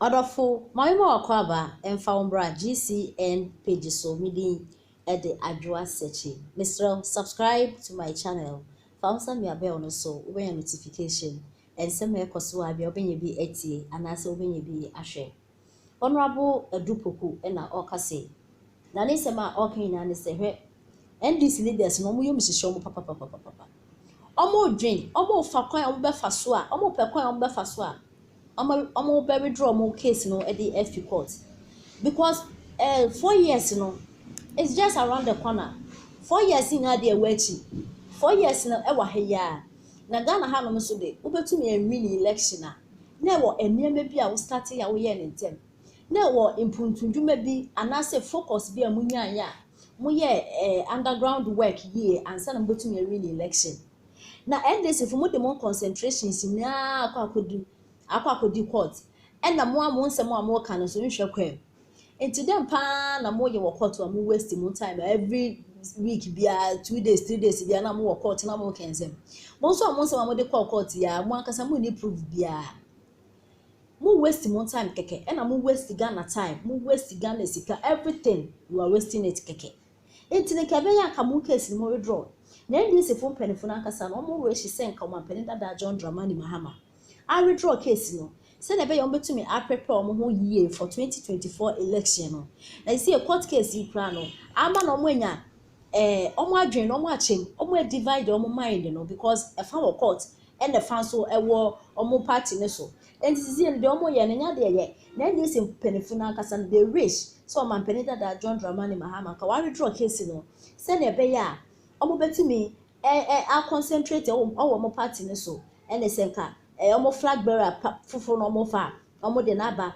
Ɔdɔfo, ma me ma w'akwaaba mfa wo mbra GCN page so me din de Adwoa Sekyi mesrɛ wo subscribe to my channel fa wo nsa mia bell no so wobɛnya notification nsɛm a ɛkɔ so a bia wobɛnya bi atie anaasɛ wobɛnya bi ahwɛ. Honourable Adu Poku na ɔreka sei. Na ne nsɛm a ɔreka nyinaa ne sɛ, hwɛ, NDC leaders no, wɔyɛ wɔn sisi wɔn papapapapapa. Wɔredwen, wɔrefa kwan a wɔbɛfa so a, wɔrepɛ kwan a wɔbɛfa so a, wɔma wɔbɛ withdraw wɔn case no de afi court. Because eh, four years no, it's just around the corner. Four years nyinaa deɛ ɛwɔ akyi. Four years no ɛwɔ ha yi ara. Na Ghana hanom nso de, wobɛtumi anwini election a, na ɛwɔ nneɛma bi a wo startee a woyɛɛ no ntɛm, na ɛwɔ mpuntudwuma bi anaasɛ focus bi a mo nyaeɛ a mo yɛɛ eh, underground work yie ansa na mo bɛtumi awini election. Na NDC fo mo de mo concentrations nyinaa akɔ akɔdi akɔ akɔdi court ɛna mo a mo nsɛm a mo reka no nso nhwɛ kwaam. Enti dɛn paa na mo yɛ wɔ court a mo waste mo time every week bia two days three days bia na mo wɔ court na mo kɛnsɛm mo nso a mo nsɛm a mo de kɔ court ya mo ankasa mo ni proof bia mo waste mo time kɛkɛ ɛna mo waste Ghana time mo waste Ghana sika everything you are wasting it kɛkɛ enti ne kɛbɛ ya ka mo case mo withdraw na NDC fo mpanyinfo no ankasa no wɔn wɔ ehyi sɛ nka wɔn ampanin dada John Dramani Mahama. awedraw case no sɛnea ɛbɛyɛ a wɔbetumi aprepair wɔn ho yiye for twenty twenty four election no. Na seesei court case yi koraa no, ama na wɔanya eh, wɔn adwene no, wɔn akyɛm, wɔn adivide wɔn mind no because ɛfa wɔ court ɛna ɛfa nso ɛwɔ wɔn party no so. Enti seesei no deɛ wɔyɛ no nyɛ adeɛ ɛyɛ. Na NDC mpanyinfo no ankasa no, they wish sɛ ɔmanpanin dada John Dramani Mahama nka wawedraw case no sɛnea ɛbɛyɛ a wɔbetumi ɛ ɛ a concentrate wɔ wɔ wɔn party no so ɛne sɛ nka ɛ ɛ wɔn flag bearer pa foforo no wɔn fa a wɔn de no aba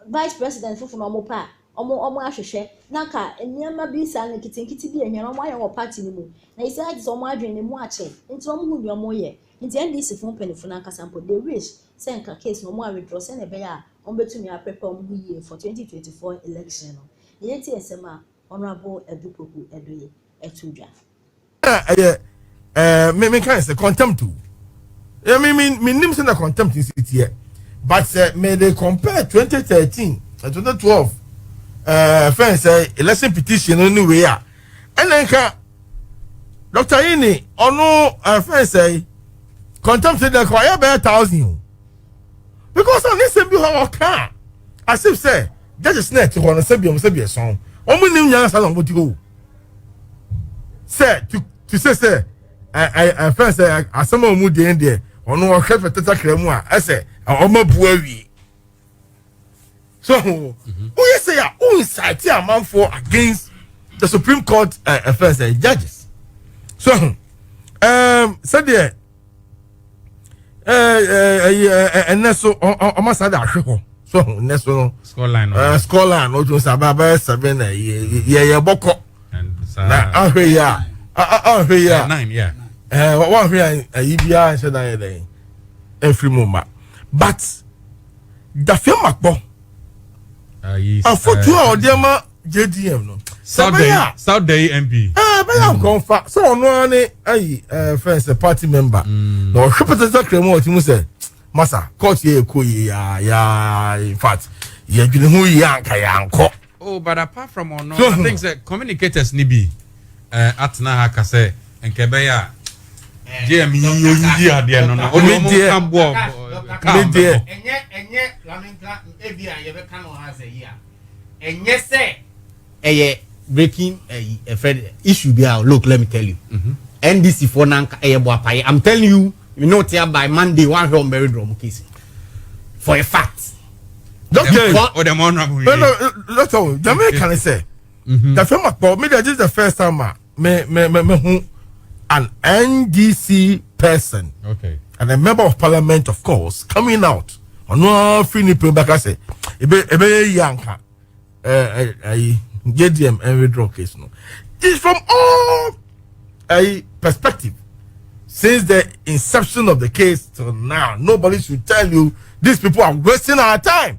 vice president foforo no wɔn pɛ a wɔn wɔn ahwehwɛ na nka nneɛma bi saa no nketenkete bi ahia na wɔn ayɛ wɔ party no mu na yi sɛ agye sɛ wɔn adwene no mu akyɛ nti wɔn ho nea wɔn yɛ nti NDC fo mpanyinfo no ankasa mpo they wish sɛ nka case no wɔn a withdraw sɛnea ɛbɛyɛ a wɔn bɛtumi aprepare wɔn ho yie for 2024 election no na yɛntie nsɛm a honourable Adu Poku Addoye ɛto dwa. na ɛyɛ ɛɛ me me kan sɛ contempt o ɛ me me me nim sɛ na contempt si teɛ but sɛ me de compare twenty thirteen eh, twenty twelve ɛɛ eh, fɛn sɛ election petition no ne wei a ɛna nka dr yini ɔno ɛɛ fɛn sɛ contempt de kɔ ɛyɛ bɛyɛ thousand o because ɔne sɛm bi hɔ ɔka asif sɛ judges na ɛte hɔ no sɛbi ɔmo sɛbi ɛsɔn ɔmo nim nyansa na ɔmo ti hɔ o. sɛ to to sɛ sɛ ɛɛ ɛfɛn sɛ asɛm a wɔn deɛ deɛ wɔn ɔhwɛ fɛtɛ sakra mu a ɛsɛ wɔn abu awie so wɔn yɛ sɛ a wɔn nsaate amanfoɔ against the supreme court ɛfɛn sɛ judges so ɛɛm sɛdeɛ. ɛnɛ so ɔma saa de ahwe hɔ so ho nnɛ so no scoreline no ɔtumi sɛ aba bɛyɛ seven na yɛyɛ bɔkɔ na ahwe yi a ahwe yi a wɔahwe a ayi biara nhyɛ dan yɛ dɛn ɛmfiri mu ma but dafeɛ makpɔ afotuo a ɔde ma JDM no. Sɛ bɛyɛ a. South Day MP. Ɛɛ bɛyɛ a nkɔn fa sɛ ɔno ara ne ayi ɛɛ fɛn sɛ party member. Mm. Na ɔhwɛ pɛtɛsɛ kura mu ɔti mu sɛ masa court yɛ ɛkɔ yie yaa yaa in fact yɛ adwene ho yie anka yɛ ankɔ. Oh, but apart from ɔno, I hmm. think sɛ communicators ni bi ɛɛ eh, atena ha ka sɛ nkɛ bɛyɛ a. JM yi oyi yi adeɛ no no. Ɔno ɔmo nka bɔ kaa mbɛ bɔ. Ɛnyɛ ɛnyɛ laminka ebi a yɛ bɛ kan wɔ ha sɛ yi a. ɛnyɛ sɛ ɛyɛ breaking ɛyi ɛfrɛ no issue bi a look let me tell you ndc foɔ nanka ɛyɛ boapaye i'm telling you me no tia by monday one hwɛ ɔmbɛwe drɔ ɔmo case for a fact. dɔkita ɔdɛm ɔnabɔ yɛ. dɔkita o jama yi kan sɛ. dafɛn ma kpɔ mi de ɛdi the first time ma. me me me me hu an ndc person okay. and a member of parliament of course coming out ɔno afiri ne pere bɛka sɛ ebe ebe yi anka ɛɛ ɛyi jdm ɛnwedraw case no is from all ɛyi perspective since the inception of the case till now nobody should tell you these people are wasting our time.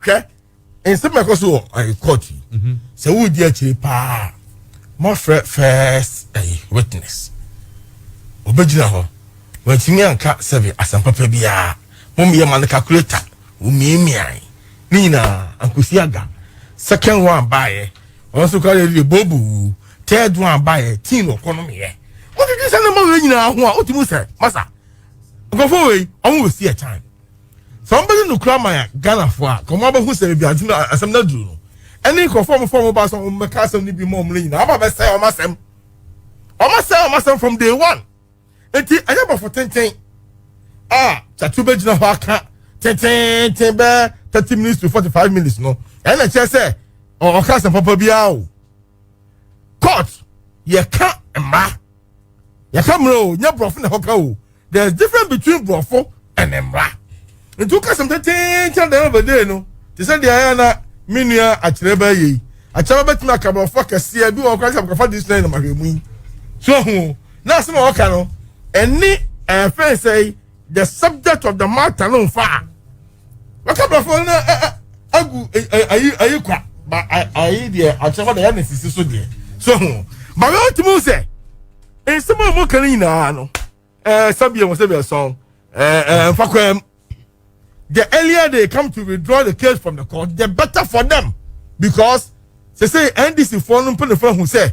hwɛ nsɛm ɛkɔ so wɔ ɛyɛ court yi mhm. sɛ wodi akyire paa mɔfrɛ first ɛyɛ witness ɔbɛgyina hɔ wɔntumi anka sɛbi asɛmpapa biara mommyɛ ma no calculator womiamiae ne nyinaa ankosi aga second one baeɛ wɔn nso kora yɛde bobu third one baeɛ teen ɔkɔ no meyɛ wotwetwe sɛ ne ma wei nyinaa ho a wotumi sɛ masa nkurɔfoɔ wei ɔmo wɔ si ɛtan Sɛ wɔn bɛdi no kura ma yɛ Ghana foɔ a, kɔmɔ abɛhu sɛ ebi adwuma a asɛm no aduru no. Ɛne nkorɔfoɔ a wɔn fɔm wɔn ba sɛ wɔn bɛka asɛm no bi ma wɔn no nyinaa, wɔn aba abɛsɛe wɔn asɛm. Wɔn asɛe wɔn asɛm from day one. Eti ɛnyɛ bɔfo tenten a Kyatu bɛgyina hɔ aka tenteenten bɛɛ thirty minutes to forty five minutes no, ɛna ɛkyerɛ sɛ ɔka asɛm papa biara o. court yɛka mmara yɛka mmara o nyɛ borɔfo na ɛhɔ ka o there is difference between borɔfo and mmara nti woka sɛm tɛtɛɛn kyerɛ dɛm abɛdee no te sɛ deɛ ayɛ na me nua akyerɛ bɛyɛ yi akyerɛ bɛtumi aka borɔfo akɛseɛ bi wɔ kora sɛ mkɔfa de sina yi na mahwɛ mu yi so ho na asɛm a wɔka no ɛne ɛfɛn sɛ the subject of the matter no nfa a wɔka brɔfo no agu ayi ayi kwa ba ayi deɛ akyerɛ hɔ na yɛ ne sisi so deɛ so ho ba yɛ ɔtumi sɛ nsɛm a wɔka no nyinaa no ɛɛ sɛbi ɛwɔ sɛbi ɛsɔn ɛɛ ɛɛ nfa kwan the earlier they come to withdraw the case from the court the better for them because sese ndc foɔ no mpanyinfoɔ ho sɛ.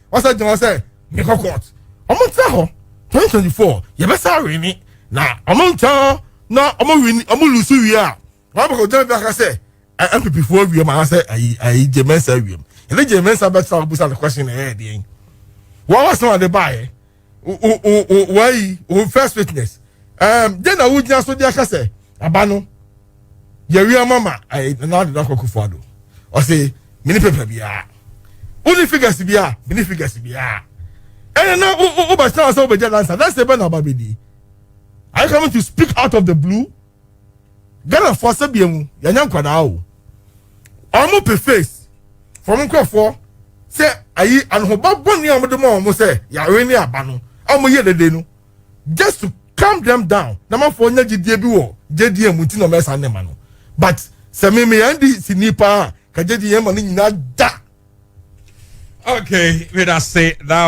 wɔsɛ gyina hɔ sɛ mekɔ court ɔmo ntena hɔ 2024 yɛbɛsa wini na ɔmo ntena hɔ na ɔmo wini ɔmo lusu wie a wɔn abɛkɔ gyina bi aka sɛ npp foɔ awie mu anaasɛ ayi ayi gye mɛnsa awie mu yɛde gye mɛnsa bɛtena hɔ busa no question na ɛyɛ deɛ wɔn asɛm a de baayɛ. wɔyi wo first witness ɛɛm de na wogyina so de aka sɛ aba no yɛwi ama ma ɛɛ nana de n'akɔ kufu ado ɔsi mini pepa biara wuli figures biara mini figures biara ɛnna na wo wo wo bɛ sɛ ɔsɛ wo bɛ gya lansa lansa bɛ na ɔba bɛ di are you coming to speak out of the blue. Ghanafoɔ asɛdeɛ mu yɛnyɛ nkwadaa o wɔn pe face fam nkurɔfoɔ sɛ ayi anohoba bɔne a wɔde ma wɔn sɛ yare ne aba no a wɔyɛ dede no just to calm them down na mafoɔ nya gyidie bi wɔ gyedie mu nti na wɔyɛ saa nneɛma no but sɛ me me yɛn di si ni paa ka gyedie yɛn ma no nyinaa da. okay meda se that